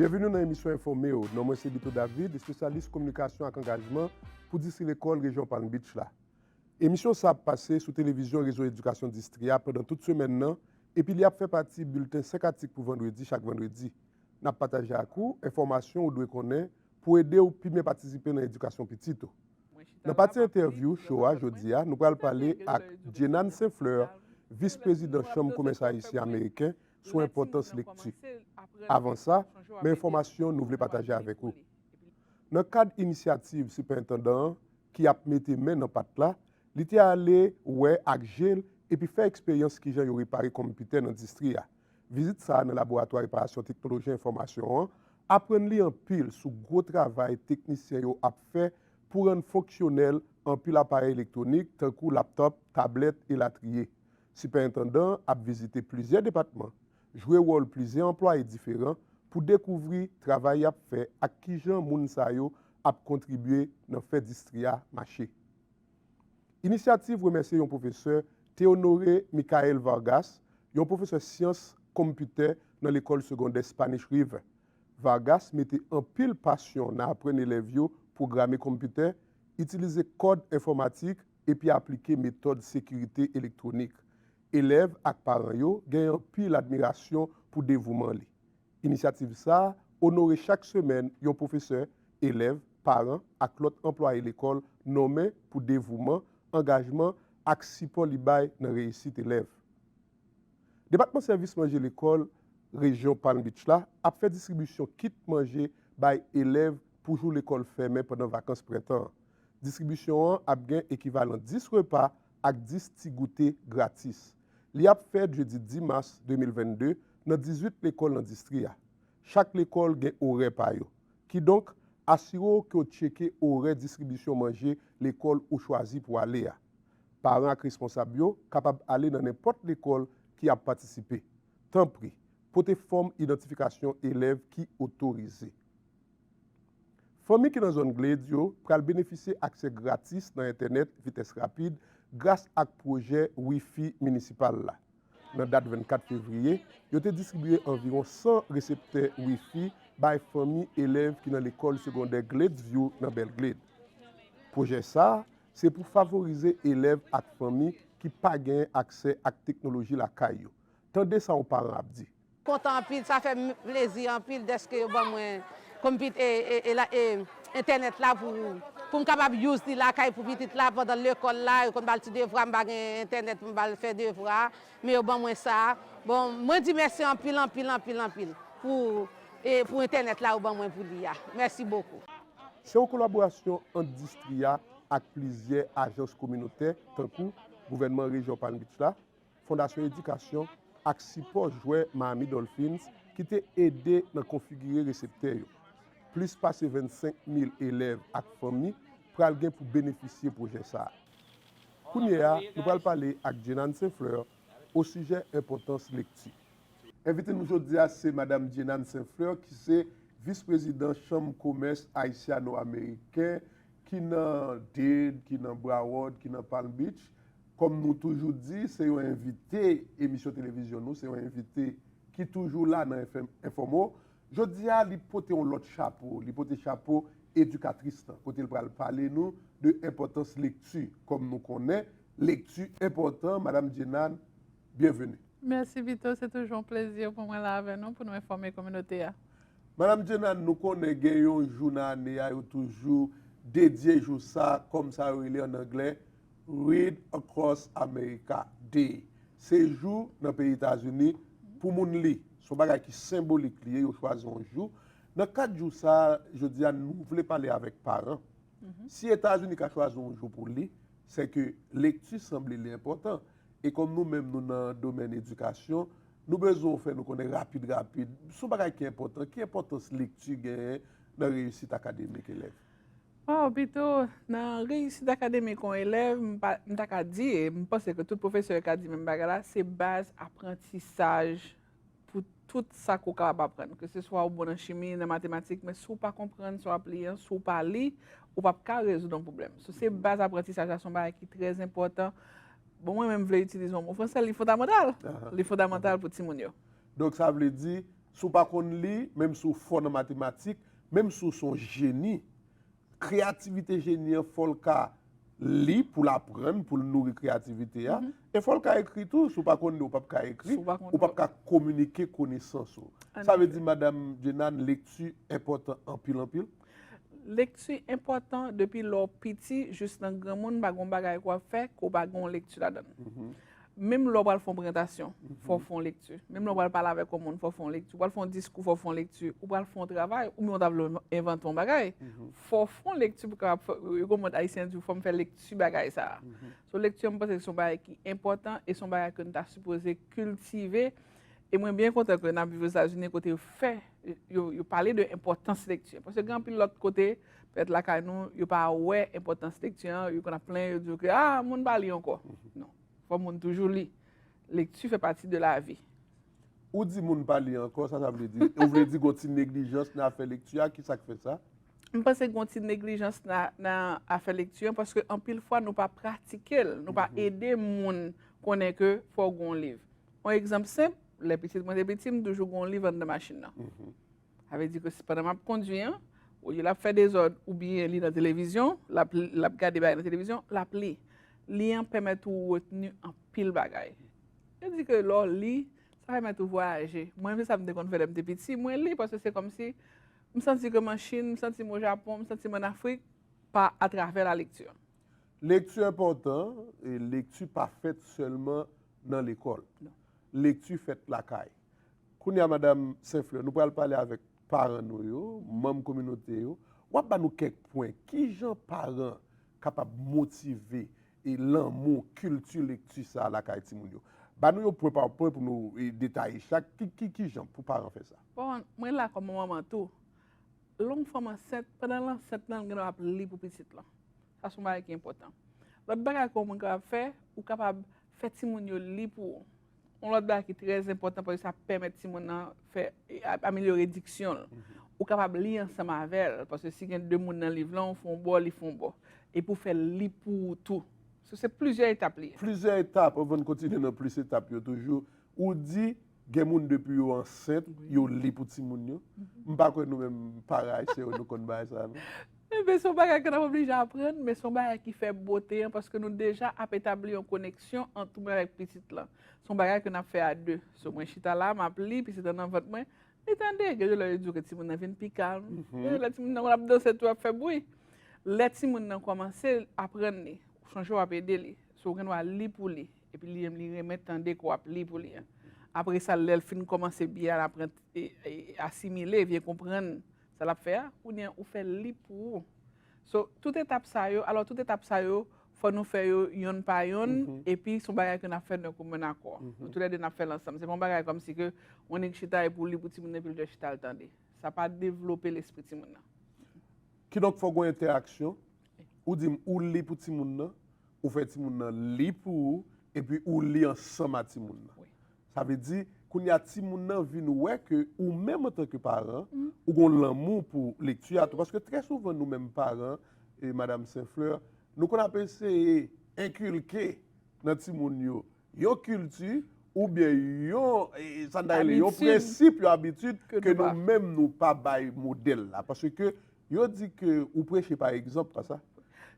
Byenveni nan emisyon Enfòme yo, non mwen se Bito David, espesyalis kominikasyon ak angajman pou Distri Lekòl Rejyon Palm Beach la. Emisyon sa ap pase sou televizyon Rezo Edikasyon Distri a pandan tout semèn nan epi li ap fè pati bilten 5 atik pou vandredi chak vandredi. N ap pataje ak ou enfòmasyon ou dwe konnen pou ede ou pi byen patisipe nan edikasyon pitit ou. Nan pati entèvyou cho a jodi a, nou pral pale ak Djenanne St. Fleur, Vis Prezidan Chanm Komès Ayisyen Ameriken sou enpòtans lekti. Avan sa, men enfòmasyon nou vle pataje avèk ou. Nan kad inisyativ Sipèentandan an ki ap mete men nan pat la, li te ale wè ak je l epi fè eksperyans kijan yo repare konmpitè nan distri a. Vizit sa a nan Laboratwa Reparasyon Teknoloji Enfòmasyon an aprann li anpil sou gwo travay teknisyen yo ap fè pou rann fonksyonèl anpil aparèy elektwonik tankou laptòp, tablèt, elatriye. Sipèentandan an ap vizite plizyè depatman, jwe wòl plizyè anplwaye diferan pou dekouvri travay y ap fè ak kijan moun sa yo ap kontribye nan fè distri a mache. Inisyativ remèsye yon pwofesè Théonore Michael Vargas, yon pwofesè syans konmpitè nan lekòl segondè Spanish River. Vargas mete anpil pasyon nan aprann elèv yo pwograme konmpitè, itilize kòd enfòmatik epi aplike metòd sekirite elektwonik. Elèv ak paran yo genyen anpil admirasyon pou devouman li. Inisyativ sa a onore chak semèn yon pwofesè, elèv, paran ak lòt anplwaye lekòl nonmen pou devouman, angajman ak sipò li bay nan reyisit elèv. Depatman Sèvis Manje Lekòl Rejyon Palm Beach la ap fè distribisyon kit manje bay elèv pou jou lekòl fèmen pandan vakans prentan an. Distribisyon an ap gen ekivalan 10 repa ak 10 ti goute gratis. Li ap fèt jedi 10 mas 2022 nan 18 lekòl nan distri a. Chak lekòl gen orè pa yo. Kidonk, asire w ke w tcheke orè distribisyon manje lekòl ou chwazi pou w ale a. Paran ak responsab yo kapab ale nan nenpòt lekòl ki ap patisipe. Tanpri, pote fòm idantifikasyon elèv ki otorize. Fanmi ki nan zòn Glades yo pral benefisye aksè gratis nan entènèt vitès rapid gras ak pwojè Wi-Fi minisipal la. Nan dat 24 fevriye, yo te distribiye anviwon 100 reseptè Wi-Fi bay fanmi elèv ki nan lekòl segondè Glades View nan Belgrade. Pwojè sa a se pou favorize elèv ak fanmi ki pa genyen aksè ak teknoloji lakay yo. Tande sa yon paran ap di. Kontan anpil sa fèm plezi anpil dèske yo ban mwen kompit e entènèt la poum kapab use li lakay pou pitit la pandan lekòl la yo konn bal ti devwa mpa gen entènèt poum bal fè devwa men yo ban mwen sa bon mwen di mèsi anpil anpil anpil anpil pou entènèt la yo ban mwen pou li a mèsi bokou. Se yon kolaborasyon ant distri a ak plizyè ajans kominotè tankou gouvènman rejyon Palm Beach la, Fondasyon Edikasyon ak sipò jwè Miami Dolphins ki te ede nan konfigire reseptè yo. Plis pase 25 mil elèv ak fanmi pral gen pou benefisye pwojè sa a. Kounye a, nou pral pale ak Djenanne St-Fleur osijè enpòtans lekti. Envite nou jodi a se Madam Djenanne St-Fleur ki se Vis Prezidan Chanm Komès Ayisyano-Ameriken ki nan Dade, ki nan Broward, ki nan Palm Beach. Kòm nou toujou di, se yon envite emisyon televizyon nou, se yon envite ki toujou la nan FM Infòmo. Jodi a, li pote yon lòt chapo, li pote chapo edikatris lan, kote l pral pale nou de enpòtans lekti. Kòm nou konnen, lekti enpòtan, Madam Djenad, byenveni. Mèsi Vito, se toujou yon plezi pou mwen la avè nou pou nou enfòme kominote a. Madam Djenad, nou konnen gen yon jou nan ane a yo toujou dedye jou sa kòm sa yo rele an anglè Read Across America, de, Se jou nan peyi Etazini pou moun li. Se yon bagay ki senbolik li ye, yo chwazi yon jou. Nan kad jou sa a, jodi a nou vle pale avèk paran. Si Etazini ka chwazi yon jou pou li, se ke lekti sanble li enpòtan. E kòm nou menm nou nan domèn edikasyon, nou bezwen ou fè nou konnen rapid rapid, se yon bagay ki enpòtan, ki enpòtans lekti genyen nan reyisit akademik elèv? Waw pito nan reyisit akademik yon elèv m ta ka di e m panse ke tout pwofesè ka di menm bagay la se baz aprantisaj pou tout sa ke w kapab aprann ke se swa ou bon nan chimi nan matematik men si w pa konprann sa w ap li an si w pa li ou pap ka rezoud yon pwoblèm sou se baz aprantisaj la se yon bagay ki trè enpòtan bon mwen menm m vle itilize yon mo fransè li fondamantal li fondamantal pou timoun yo. Donk sa vle di Si w pa konn li, menm si w fò nan matematik, menm si w se yon jeni, kreyativite jeni an fò l ka li pou l aprann, pou l nouri kreyativite a, e fò l ka ekri tou. Si w pa konn li, ou pap ka ekri, ou pap ka kominike konesans ou. Sa vle di, Madam Djenane, lekti enpòtan anpil anpil? Lekti enpòtan depi lè w piti jis nan granmoun, pa gen yon bagay ke w ap fè ke w pa gen yon lekti ladan l. Menm lè w pral fè yon prezantasyon, fò w fè yon lekti. Menm lè w pral pale avèk yon moun, fò w fè yon lekti. Ou pral fè yon diskou, fò w fè yon lekti. Ou pral fè yon travay, oubyen ou ta vle envante yon bagay, fò w fè yon lekti pou w kapab fè, yo konprann Ayisyen di fò m fè lekti bagay sa a. So lekti an m panse se yon bagay ki enpòtan e se yon bagay ke nou ta sipoze kiltive. E mwen byen kontan ke n ap viv Ozetazini kote yo fè, yo pale de enpòtans lekti. Paske gen anpil lòt kote. Pètèt lakay nou, yo pa wè enpòtans lekti an, yo konn ap plenyen, yo di yo ke a, moun pa li ankò. Non, fò moun toujou li. Lekti fè pati de lavi. Ou di moun pa li ankò, sa sa vle di? Ou vle di gon ti neglijans nan afè lekti a, ki sa k fè sa? M panse gon ti neglijans nan afè lekti an, paske anpil fwa nou pa pratike l, nou pa ede moun konnen ke fò w gon liv. On egzanp senp, lè pitit mwen te piti, m toujou gon liv anndan machin nan. Sa vle di ke si pandan m ap kondwi an, olye l ap fè dezòd oubyen li nan televizyon, l ap li, l ap gade bagay nan televizyon, l ap li. Li an pèmèt ou retni anpil bagay. Yo di ke lè w li, sa pèmèt ou vwayaje. Mwen se sa m te konn fè lè m te piti, mwen li paske se kòmsi m santi ke m an Chin, m santi m o Japon, m santi m an Afrik pa atravè la lekti. Lekti enpòtan e lekti pa fèt sèlman nan lekòl. Lekti fèt lakay. Kounye a, Madam St-Fleur, nou pral pale avèk paran nou yo, manm kominote yo. W ap ba nou kèk pwen, ki jan paran kapab motive e lanmou kilti lekti sa a lakay timoun yo? Ba nou yo pwen pa pwen pou nou detaye chak. Ki jan pou paran fè sa? Bon, mwen la kòm yon manman tou. Lè yon fanm ansent, pandan l ansent lan, l gen dwa ap li pou pitit lan. Sa se yon bagay ki enpòtan. Lòt bagay ke w mwen kapab fè, ou kapab fè timoun yo li pou ou. Yon lòt bagay ki trè enpòtan paske sa pèmèt timoun nan fè, amelyore diksyon l. Ou kapab li ansanm avè l, paske si gen de moun nan liv lan, ou fè yon bò, li fè yon bò. Epi ou fè l li pou ou tou. So se plizyè etap li ye. Plizyè etap, anvan n kontinye nan plis etap yo toujou, ou di gen moun depi yo ansent, yo li pou timoun yo. M pa kwè nou menm paran Ayisyen yo nou konn bagay sa a non. Enben, se yon bagay ke n ap oblije aprann, men se yon bagay ki fè bote an, paske nou deja ap etabli yon koneksyon ant ou menm avèk pitit lan. Se yon bagay ke n ap fè a 2. So, mwen chita la, m ap li, pitit lan nan vant mwen, li tande. Gen de lè yo di w ke timoun nan vin pi kalm. Gen de lè timoun nan konn ap danse tou, ap fè bwi. Lè timoun nan kòmanse aprann li, ou sonje w ap ede li. So, ou gen dwa li pou li, epi li menm li renmen tande ke w ap li pou li an. Apre sa, lè l fin kòmanse byen aprann, asimile, byen konprann Sa lap fè a kounyea ou fèl li pou ou. So tout etap sa yo, alò tout etap sa yo fò nou fè yo yonn pa yonn epi son bagay ke nap fè nan komen akò. Nou tou lè 2 nap fèl ansanm. Se pa yon bagay kòm si ke yon nèg chita e pou li pou timoun nan epi li dwe chita al tande. Sa pa devlope lespri timoun nan. Kidonk fòk gon entèraksyon. Ou dim ou li pou timoun nan, ou fè timoun nan li pou ou epi ou li ansanm a timoun nan. Sa vle di, kounye a timoun nan vin wè ke ou menm antanke paran, ou gon lanmou pou lekti a tou. Paske trè souvan nou menm paran, e Madam St. Fleur, nou konn ap eseye enkilke nan timoun yo yon kilti oubyen yon, sa n ta rele, yon prensip, yon abitid ke nou menm nou pa bay modèl la. Paske Yo di ke ou preche pa egzanp, pa sa?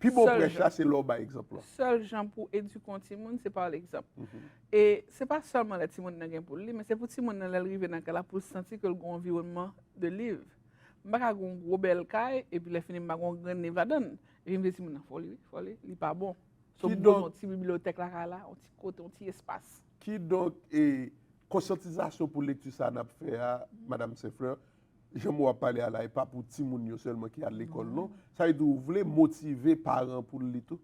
Pi bon prèch la se lè ou bay egzanp lan. Sèl jan pou edike yon timoun se pa egzanp. E se pa sèlman lè timoun nan gen pou l li, men se pou timoun nan lè l rive nan kay la pou l santi ke l gen yon anviwònman de liv. M pa ka gen yon gwo bèl kay epi lè fini m pa gen yon grenn liv ladan l. Epi m di timoun nan, fò w li wi, fò w li, li pa bon. So m bezwen yon ti bibliyotèk lakay la, yon ti kote, yon ti espas. Kidonk, konsyantizasyon pou lekti sa a n ap fè a, Madam St. Fleur, Jan mou ap pale a la e pa pou timoun yo sèlman ki al lekòl non. Sa vle di ou vle motive paran pou l li tou?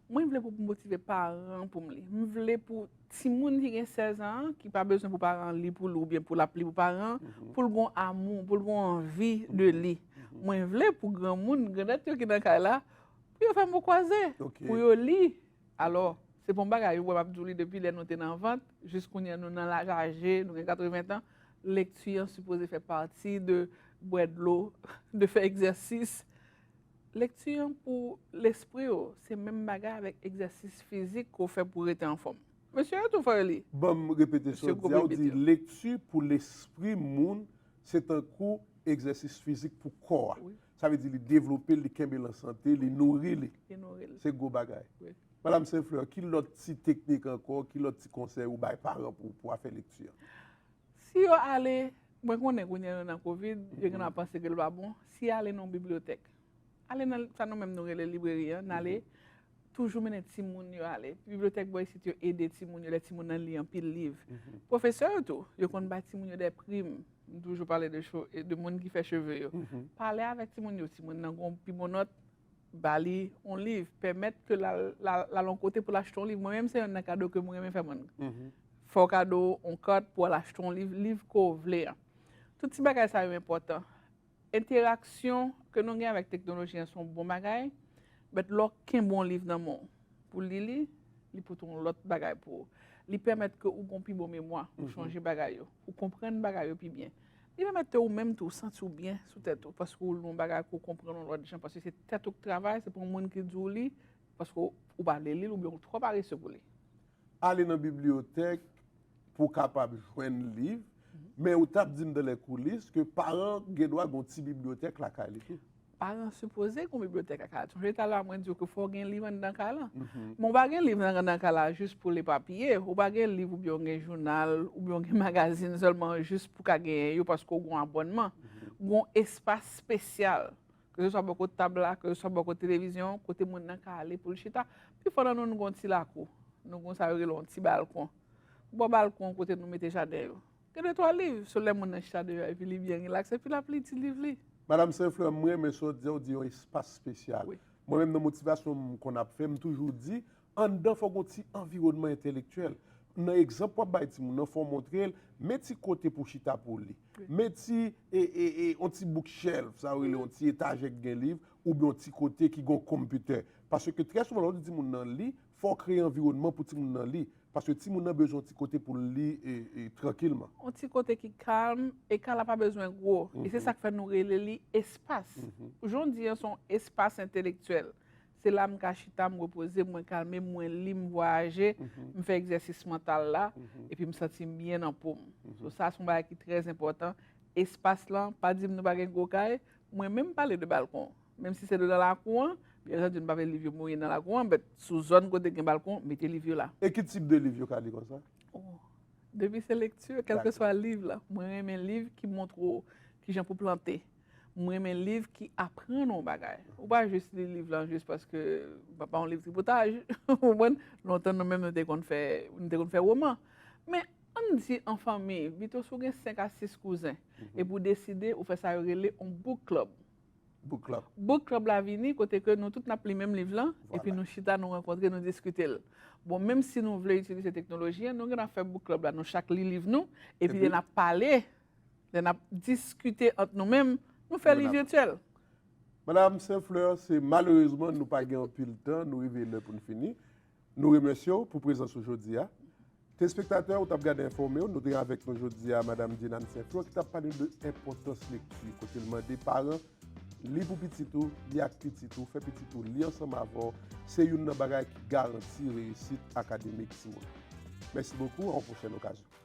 Mwen vle pou motive paran an pou m li. M vle pou timoun ki gen 16 an an, ki pa bezwen pou paran an li pou li oubyen pou l ap li pou paran an, pou l gon amou, pou l gon anvi de li. Mwen vle pou granmoun, grandèt yo ki nan kay la, pou yo fè mo kwaze, pou yo li. Alò, se pa yon bagay ou wè m ap di w li depi lè nou te nan vant, jis kounye nou nan laj aje, nou gen 80 tan, lekti an sipoze fè pati de bwè dlo, de fè egzèsis. Lekti an pou lespri w, se menm bagay avèk egzèsis fizik ke w fè pou w rete anfòm. Mesye yo tou fò yo li. Ban m repete sa w di a, ou di lekti pou lespri moun se tankou egzèsis fizik pou kò a. Sa vle di li devlope l, li kenbe l an sante, li nouri li. Li nouri l. Se gwo bagay. Wi. Madam Sainfleur, ki lòt ti teknik ankò, ki lòt ti konsèy ou bay paran pou pou afè lekti an? Si yo ale, mwen konnen kounye a nou nan kovid, yo gen dwa ap panse ke l pa bon. Si y ale nan yon bibliyotèk, ale nan sa nou menm nou rele libreri an, n ale, toujou mennen timoun yo ale. Bibliyotèk bò isit yo ede timoun yo lè timoun nan li anpil liv. Pwofesè yo tou, yo konn bay timoun yo dè prim. M toujou pale de moun ki fè cheve yo. Pale avèk timoun yo, timoun nan gen yon pi bon nòt, ba li yon liv. Pèmèt ke l al yon kote pou l achte yon liv. Mwen menm se youn nan kado ke m renmen fè moun. Fè w kado yon kat pou w al achte yon liv, liv ke w vle an. Tout ti bagay sa yo enpòtan. Enteraksyon ke nou gen avèk teknoloji an se yon bon bagay, but lè w kenbe yon liv nan men w pou li li, li pote yon lòt bagay pou ou. Li pèmèt ke ou gen yon pi bon memwa, ou chonje bagay yo, ou konprann bagay yo pi byen. Li pèmèt ke ou menm tou, ou santi w byen sou tèt ou, paske ou li yon bagay ke ou konprann yon lòt jan, paske se tèt ou ki travay, se pa yon moun ki di w li, paske ou pa vle li l oubyen ou twò parese pou li. Ale nan bibliyotèk pou w kapab jwenn liv, men ou t ap di m dan lèkoulis ke paran gen dwa gen yon ti bibliyotèk lakay li tou. Paran sipoze gen yon bibliyotèk lakay la. Sonje talè a mwen di w ke fò w gen liv anndan kay lan. Men ou pa gen liv anndan kay la jis pou l epapiye, ou pa gen liv oubyen ou gen jounal oubyen ou gen magazin sèlman jis pou w ka genyen yo paske w gen yon abònman. Gen yon espas spesyal Keseswa bò kot tab la, keseswa bò kot televizyon, kote moun nan ka ale pou l chita. Pifò nan nou, nou gen yon ti lakou. Nou gen sa yo rele yon ti balkon. Bò balkon kote nou mete jaden yo. Gen de twa liv, sou lè moun nan chita deyò epi li byen rilaks, epi l ap li ti liv li. Madam Senflè, m renmen sa w di a, w di yon espas spesyal. Mwen menm nan motivasyon m konn ap fè, m toujou di, Anndan fò gen yon ti anviwònman entèlektyèl. Nan egzanp w ap bay timoun nan, fò w montre l, men ti kote pou w chita pou w li. Men ti, e, e, e, yon ti book shelf, sa yo rele yon ti etajè ki gen liv, oubyen yon ti kote ki gen yon konpitè. Paske trè souvan lè w di timoun nan li, fò w kreye anviwònman pou timoun nan li. Paske timoun nan bezwen yon ti kote pou l li, e, e, trankilman. Yon ti kote ki kalm, e kay la pa bezwen gwo. E se sa k fè nou rele li espas. Jan w di an se yon espas entèlektyèl. Se la m ka chita, m repoze, mwen kalme, mwen li, m vwayaje, m fè egzèsis mantal la, epi m santi m byen nan po m. So sa se yon bagay ki trè enpòtan. Espas lan, pa di m nou pa gen gwo kay, mwen menm m pale de balkon. Menm si se devan lakou an, byen antandi nou pa vle liv yo mouri nan lakou an, but sou zòn kote gen balkon, mete liv yo la. E ki tip de liv yo ka li konsa? O, depi se lekti, kèlkeswa liv la. Mwen renmen liv ki montre w kijan pou plante, M renmen liv ki aprann ou yon bagay. Ou pa jis li liv lan jis paske ou pa yon liv tripotaj. Ou konprann? Lontan nou menm nou te konn fè, nou te konn fè woman. Men, ann di an fanmi, pito si w gen 5 a 6 kouzen, epi w deside ou fè sa yo rele yon book club. Book club. Book club la vini kote ke nou tout n ap li menm liv lan, epi nou chita, nou rankontre, nou diskite l. Bon, menm si nou vle itilize teknoloji an, nou gen dwa fè book club la, nou chak li liv nou, epi n ap pale. Lè n ap diskite ant nou menm, nou fè li vyetyèl. Madam St-Fleur, se malerezman nou pa gen anpil tan, nou rive lè pou n fini. Nou remèsye w pou prezans ou jodi a. Telespektatè, ou t ap gade Enfòme yo, nou te gen avèk nou jodi a Madam Djenanne St-Fleur ki t ap pale de enpòtans lekti kote l mande paran, li pou pitit ou, li ak pitit ou, fè pitit ou li ansanm avè w, se youn nan bagay ki garanti reyisit akademik timoun. Mèsi bokou, a yon pwochèn okazyon.